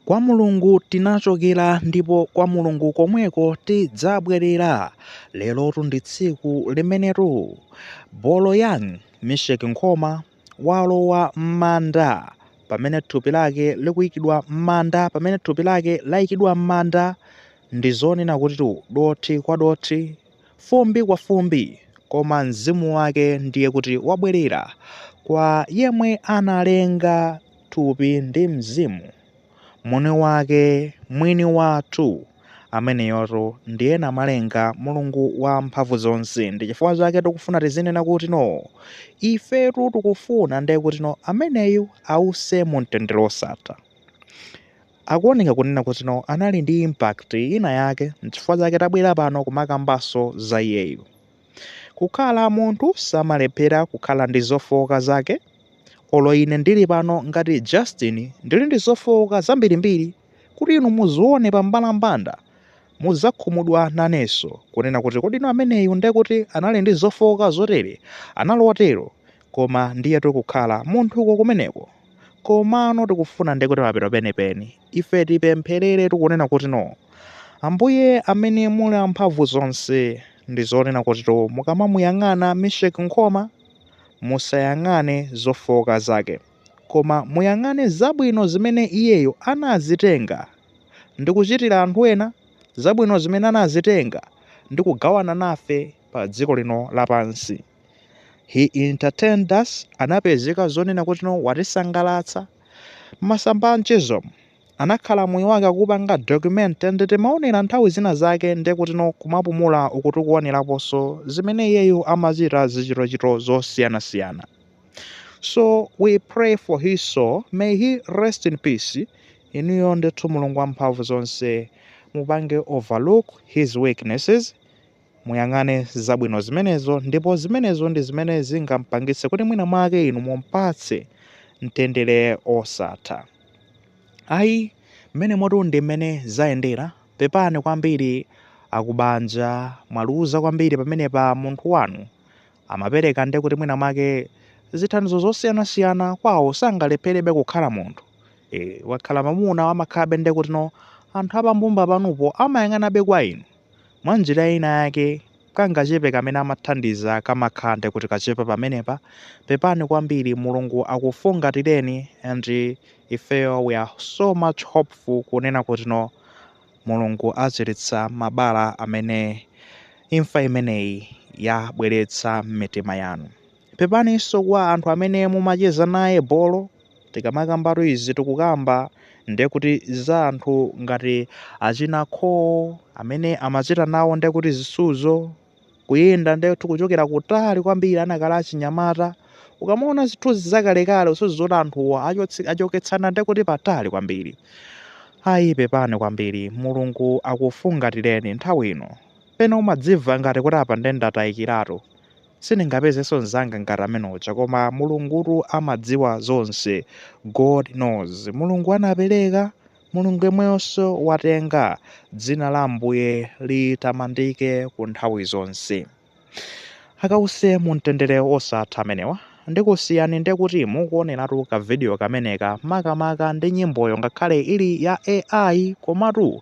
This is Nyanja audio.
Kwa Mulungu tinachokera ndipo kwa Mulungu komweko tidzabwerera. Lerotu ndi tsiku limenetu Boloyang Misheck Nkhoma walowa m'manda pamene thupi lake likuyikidwa m'manda pamene thupi lake layikidwa m'manda ndi zonena kutitu dothi kwa dothi, fumbi kwa fumbi koma mzimu wake ndiye kuti wabwerera kwa yemwe analenga. thupi ndi mzimu, Mwini wake, Mwini wathu, ameneyotu ndiye Namalenga, Mulungu wa mphamvu zonse. Ndi chifukwa chake tikufuna tizinena kuti no, ifetu tikufuna ndiye kuti no, ameneyu ause mu mtendere osatha. Akuoneka kunena kuti no, anali ndi impact ina yake, n'chifukwa chake tabwera pano kumakambanso za iyeyu. Kukhala munthu samalephera kukhala ndi zofooka zake. Olo ine ndili pano ngati Justin ndili ndi zofooka zambirimbiri kuti inu muzione pa mbalambanda muzakhumudwa naneso kunena kuti kodi no ameneyu ndekuti anali ndi zofooka zotere? Anali otero? Koma ndiyetu kukhala munthuko kumeneko. Komano tikufuna ndiye kuti mapeto peni peni, ife tipempherere tikunena kuti no. Ambuye amene muli amphamvu zonse, ndi zonena kuti no mukamamuyang'ana Misheck Nkhoma, musayang'ane zofooka zake, koma muyang'ane zabwino zimene iyeyo anazitenga ndi kuchitira anthu ena, zabwino zimene anazitenga ndi kugawana nafe pa dziko lino lapansi. He entertained us, anapezeka zonena kuti no watisangalatsa. M'masamba a mchezo, anakhala moyo wake akupanga document ndi timaonera nthawi zina zake nde kuti no kumapumula uku tikuoneraponso zimene iyeyu amachita zichitochito zosiyanasiyana. So we pray for his soul, may he rest in peace. Inuyo ndithu Mulungu wamphamvu zonse mupange overlook his weaknesses Muyang'ane zabwino zimenezo, ndipo zimenezo ndi zimene zingampangitse kuti mwinamwake inu mumpatse mtendere osatha. Ayi, mmenemotu ndi mmene zayendera. Pepani kwambiri akubanja, mwaluza kwambiri pamenepa munthu wanu. Amapereka nde kuti mwinamwake zithandizo zosiyanasiyana kwawo sangalepherebe kukhala munthu. E, wakhala mamuna amakhalabe nde kuti no anthu a pambumba panupo amayang'anabe kwa inu. Mwa njira ina yake, kangachepe kamene amathandiza kamakhala nde kuti kachepa pamenepa, pepani kwambiri, Mulungu akufungatireni and ifeyo we are so much hopeful kunena kuti no Mulungu achiritsa mabala amene imfa imeneyi yabweretsa m'mitima yanu. Pepaninso kwa anthu amene mumacheza naye bolo. Tikamakambatu izi tikukamba ndiye kuti za anthu ngati achina Khoo amene amachita nawo ndiye kuti zisuzo, kuyenda ndiye kuti kuchokera kutali kwambiri anakali achinyamata. Ukamaona zithunzi zakalekale usuzumira zoti anthuwa achoketsana ndiye kuti patali kwambiri. Ayi pepani kwambiri, Mulungu akufungatireni nthawi ino. Pena umadzimva ngati kuti apa ndiye ndatayikiratu. Sindingapezenso mzanga ngati amene uja koma mulungutu amadziwa zonse God knows mulungu anapeleka mulungu yemweyonso watenga dzina la ambuye litamandike ku nthawi zonse akawuse mu mtendere osatha amenewa ndikusiyani ndekuti mukuoneratu ka video kameneka makamaka ndi nyimboyo ngakhale ili ya AI komatu